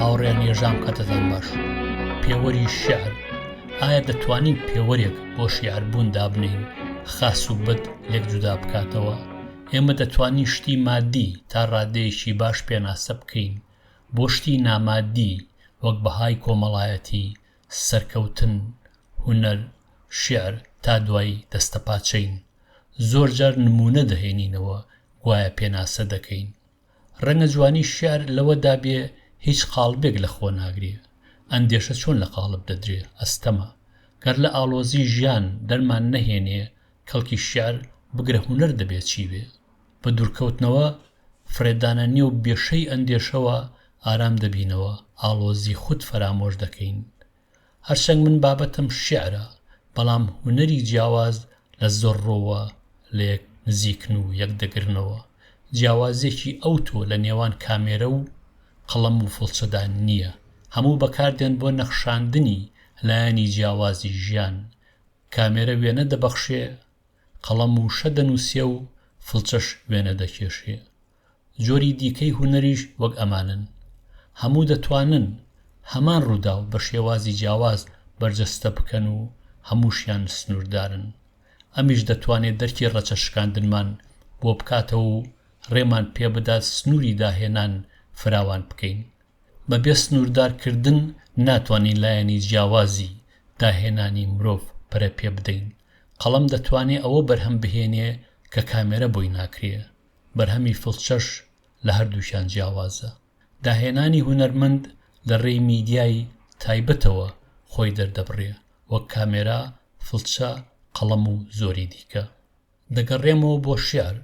هاوڕێ نێژام کەتەزان باش پێوەری شعر ئایا دەتوانین پێوەرێک بۆ شیعربوون دابنین خاس و بەد لێک جودا بکاتەوە ئێمە دەتوانین شتی مادی تا ڕادەیەکی باش پێناسە بکەین بۆ شتی ناماددی وەک بەهای کۆمەڵایەتی، سەرکەوتن، هونەر، شیعر تا دوایی دەستەپاچەین. زۆرجار نموونە دەهێنینەوە گوایە پێناسە دەکەین. ڕەنگە جوانی شیعر لەوەدا بێ هیچ قاڵبێک لە خۆ ناگرێ. ئەندێشە چۆن لە قاڵب دەدرێ ئەستەمە. گەر لە ئاڵۆزی ژیان دەرمان نەهێنێ کەڵکی شیعر، بگرە هونەر دەبێ چی بێ؟ بە دوورکەوتنەوە، فرێدانە نێو بێشەی ئەندێشەوە ئارام دەبینەوە، ئاڵۆزی خود فەرامۆش دەکەین. هەرچەنگ من بابەتم شیعرە، بەڵام هونەری جیاواز لە زۆر ڕووەوە لە یەک نزیکن و یەک دەگرنەوە، جیاوازییەکی ئەوتۆ لە نێوان کامێرە و قەڵەم و فڵچەدا نییە، هەموو بەکاردێن بۆ نەخشاندنی لایەنی جیاوازی ژیان، کامێرە وێنە دەبەخشێ، قەڵەم وشە دەنووسێ و فڵچەش وێنە دەکێشێ. جۆری دیکەی هونەریش وەک ئەمانەن. هەموو دەتوانن هەمان ڕووداو بە شێوازی جیاواز بەرجەستە بکەن و هەمووشیان سنووردارن. ئەمیش دەتوانێ دەرکی ڕەچە شکاندنمان بۆ بکاتەوە و ڕێمان پێ بدات سنووری داهێنان فراوان بکەین. بە بێ سنووردار کردن ناتوانین لایەنی جیاوازی داهێنانی مرۆڤ پەرە پێ بدەین. قەڵەم دەتوانێ ئەوە بەرهەم بهێنێ کە کامێرە بۆی ناکرێ، بەرهەمی فڵچەش لە هەردووکیان جیاوازە. داهێنانی هونەرمەند لە رێی میدیای تایبەتەوە خۆی دەردەبڕێ، وەک کامێرا، فڵچە، قەڵەم و زۆری دیکە. دەگەڕێمەوە بۆ شیعر،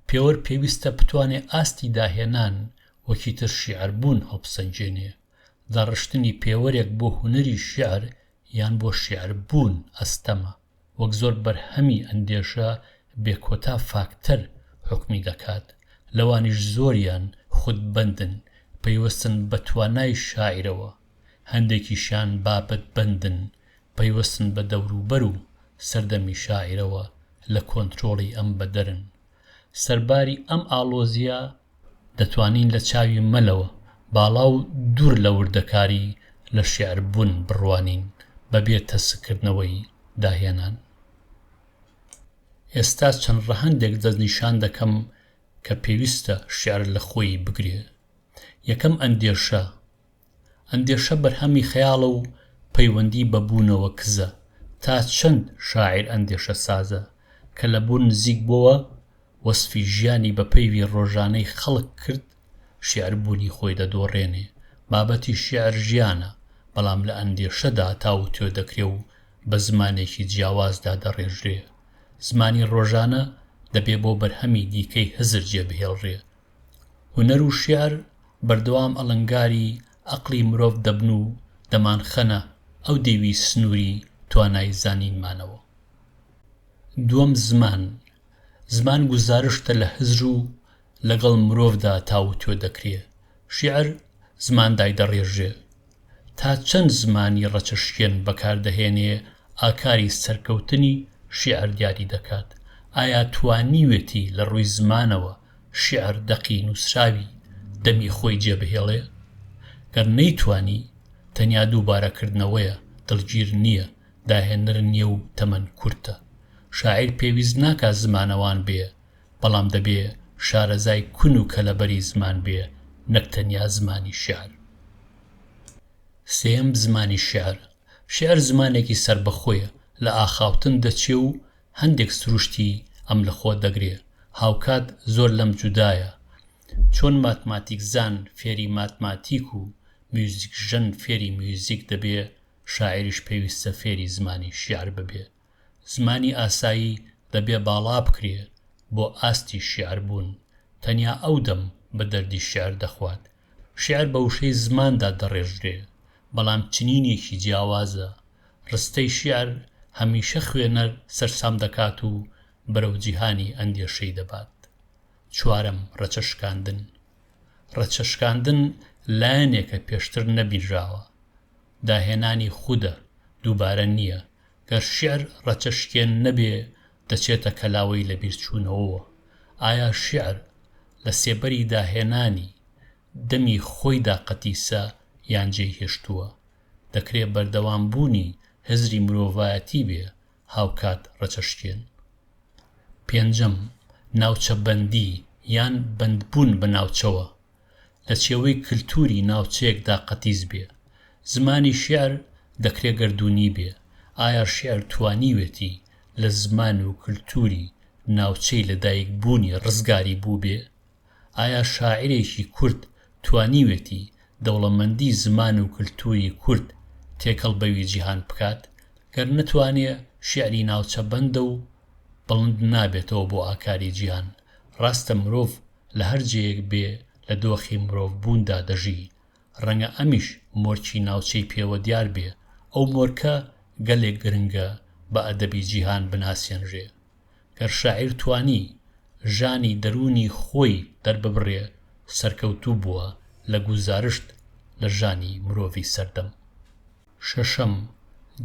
پێوەر پێویستە بتوانێ ئاستی داهێنان و چیتر شیعربوون هەڵبسەنگێنێ. داڕشتنی پێوەرێک بۆ هونەری شیعر یان بۆ شیعربوون ئەستەمە، وەک زۆر بەرهەمی ئەندێشە بێکۆتا فاکتەر حوکمی دەکات، لەوانیش زۆریان خودبەندن، پەیوەستن بە توانای شاعیرەوە، هەندێکیشیان بابەتبەندن، پەیوەستن بە دەوروبەر و سەردەمی شاعیرەوە، لە کۆنترۆڵی ئەم بەدەرن. سەرباری ئەم ئاڵۆزییە دەتوانین لە چاوی مەلەوە باڵا و دوور لە وردەکاری لە شیعر بوون بڕوانین بە بێ تەسککردنەوەی داهێنان. ئێستا چەند ڕەهەندێک دەستنیشان دەکەم کە پێویستە شیعر لە خۆی بگرێ. یەکەم ئەندێشە ئەندێشە بەرهەمی خەیاڵە و پەیوەندی بە بوونەوە کزە، تا چەند شاعیر ئەندێشە سازە، کە لە بوون نزیک بۆوە، وەسفی ژیانی بە پەیڤی ڕۆژانەی خەڵک کرد، شیعر بوونی خۆی دەدۆڕێنێ، بابەتی شیعر ژیانە، بەڵام لە ئەندێشەدا تاووتوێ دەکرێ و بە زمانێکی جیاواز دادەڕێژرێ، زمانی ڕۆژانە دەبێ بۆ بەرهەمی دیکەی هزر جێ بهێڵرێ، هونەر و شیعر بەردەوام ئەڵنگاری ئەقڵی مرۆڤ دەبن و دەمانخەنە ئەو دێوی سنووری توانای زانینمانەوە. دووەم، زمان، زمان گوزارشتە لە هزر و لەگەڵ مرۆڤدا تاووتوێ دەکرێ، شیعر زمان دایدەڕێژێ، تا چەند زمانی ڕەچەشکێن بەکاردەهێنێ ئاکاری سەرکەوتنی شیعر دیاری دەکات، ئایا توانیوێتی لە ڕووی زمانەوە شیعر دەقی نووسراوی دەمی خۆی جێبهێڵێ؟ گەر نەیتوانی، تەنیا دووبارەکردنەوەیە، دڵگیر نییە، داهێنەر نییە و تەمەن کورتە. شاعیر پێویست ناکا زمانەوان بێ، بەڵام دەبێ شارەزای کون و کەلەبەری زمان بێ نەک تەنیا زمانی شیعر. سێیەم، زمانی شیعر، شیعر زمانێکی سەربەخۆیە، لە ئاخاوتن دەچێ و هەندێک سروشتی ئەم لە خۆ دەگرێ، هاوکات زۆر لەم جودایە، چۆن ماتماتیکزان فێری ماتماتیک و میوزیکژەن فێری میوزیک دەبێ، شاعیریش پێویستە فێری زمانی شیعر ببێ. زمانی ئاسایی دەبێ باڵا بکرێ بۆ ئاستی شێعر بوون، تەنیا ئەو دەم بە دەردی شێعر دەخوات. شێعر بە وشەی زماندا دەڕێژرێ، بەڵام چنینێکی جیاوازە. ڕستەی شێعر هەمیشە خوێنەر سەرسام دەکات و بەرەو جیهانی ئەندێشەی دەبات. چوارەم، ڕەچە شکاندن. ڕەچە شکاندن لایەنێکە پێشتر نەبینراوە. داهێنانی خودە، دووبارە نییە. گەر شیعر ڕەچەشکێن نەبێ دەچێتە کەلاوەی لەبیرچوونەوەوە، ئایا شیعر لە سێبەری داهێنانی دەمی خۆیدا قەتیسە یان جێی هێشتووە؟ دەکرێ بەردەوام بوونی هزری مرۆڤایەتی بێ هاوکات ڕەچەشکێن؟ پێنجەم، ناوچەبەندی یان بەندبوون بە ناوچەوە، لە چێوەی کلتووری ناوچەیەکدا قەتیس بێ. زمانی شیعر دەکرێ گەردوونی بێ، ئایا شیعر توانیوێتی لە زمان و کلتووری ناوچەی لە دایک بوونی ڕزگاری بووبێ؟ ئایا شاعیرێکی کورد توانیوێتی دەوڵەمەندی زمان و کلتووری کورد تێکەڵ بەوی جیهان بکات؟ گەر نەتوانێ شیعری ناوچە بەندە و بڵند نابێتەوە بۆ ئاکاری جیهان. ڕاستە مرۆڤ لە هەر جێیەک بێ لە دۆخی مرۆڤ بووندا دەژی، ڕەنگە ئەمیش مۆرکی ناوچەی پێوە دیار بێ، ئەو مۆرکە گەلێک گرنگە بە ئەدەبی جیهان بناسێنرێ. گەر شاعیر توانی ژانی دەروونی خۆی دەرببڕێ سەرکەوتوو بووە لە گوزارشت لە ژانی مرۆڤی سەردەم. شەشەم،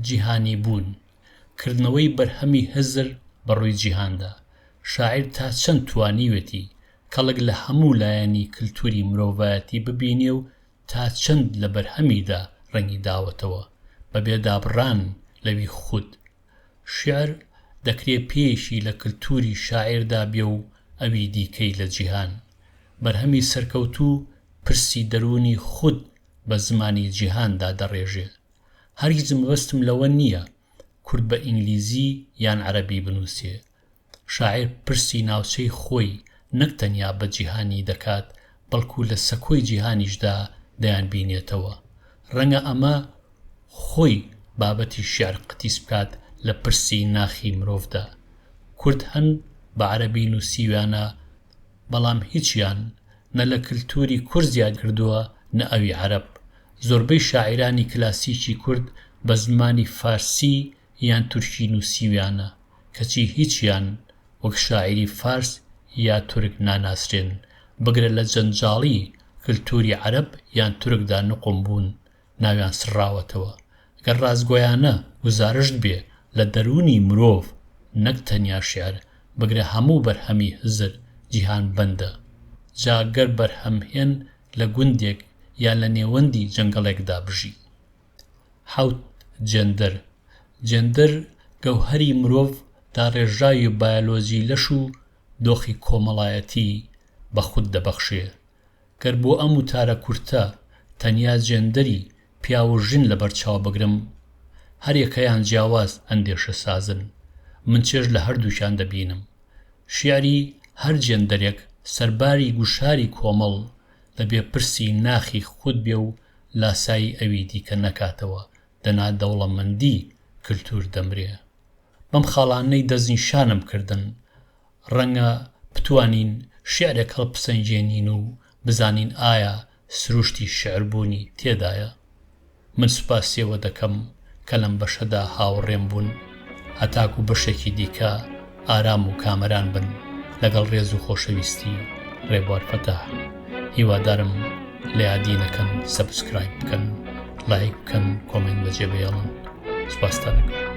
جیهانی بوون. کردنەوەی بەرهەمی هزر بە ڕووی جیهاندا، شاعیر تا چەند توانیوێتی کەڵک لە هەموو لایەنی کلتوری مرۆڤایەتی ببینێ و تا چەند لە بەرهەمیدا ڕەنگی داوەتەوە بە بێ دابڕان لەوی خود شیعر دەکرێ پێیەکی لە کلتوری شاعیردا بێ و ئەوی دیکەی لە جیهان. بەرهەمی سەرکەوتوو پرسی دەروونی خود بە زمانی جیهاندا دەڕێژێ. هەرگیز مەبەستم لەوە نییە کورد بە ئینگلیزی یان عەرەبی بنووسێ، شاعیر پرسی ناوچەی خۆی نەک تەنیا بە جیهانی دەکات، بەڵکوو لە سەکۆی جیهانیشدا دەیانبینێتەوە. ڕەنگە ئەمە خۆی بابەتی شیعر قەتیس بکات لە پرسی ناخی مرۆڤدا. کورد هەن بە عەرەبی نووسیویانە، بەڵام هیچیان نە لە کلتوری کورد زیاد کردووە نە ئەوی عەرەب زۆربەی شاعیرانی کلاسیکی کورد بە زمانی فارسی یان تورکی نووسیویانە کەچی هیچیان وەک شاعیری فارس یا تورک ناناسرێن بگرە لە جەنجاڵی کلتوری عەرەب یان تورکدا نوقم بوون ناویان سڕاوەتەوە، گەر ڕاستگۆیانە گوزارشت بێ لە دەروونی مرۆڤ نەک تەنیا شیعر بگرە هەموو بەرهەمی هزر جیهان بەندە، جا گەر بەرهەمهێن لە گوندێک یا لە نێوەندی جەنگەڵێکدا بژی. حەوت، جێندەر، جێندەر گەوهەری مرۆڤ داڕێژراوی بایۆلۆجی لەش و دۆخی کۆمەڵایەتی بە خود دەبەخشێ، گەر بۆ ئەم وتارە کورتە تەنیا جێندەری پیاو و ژن لەبەر چاو بگرم، هەریەکەیان جیاواز ئەندێشەسازن، من چێژ لە هەردووکیان دەبینم. شیعری هەر جێندەرێک سەرباری گوشاری کۆمەڵ دەبێ پرسی ناخی خود بێ و لاسایی ئەوی دیکە نەکاتەوە، دەنا دەوڵەمەندی کلتور دەمرێ. بەم خاڵانەی دەستنیشانم کردن، ڕەنگە بتوانین شیعرێک هەڵپسەنگێنین و بزانین ئایا سروشتی شیعر بوونی تێدایە؟ من سوپاسی ئەوە دەکەم کە لەم بەشەدا هاوڕێم بوون، هەتاکوو بەشێکی دیکە ئارام و کامەران بن، لەگەڵ ڕێز و خۆشەویستی، ڕێبوار فەتاح. هیوادارم لە یادی نەکەن سەبسکرایب بکەن، لایک بکەن، کۆمێنت بەجێبهێڵن. سوپاستان ئەکەم.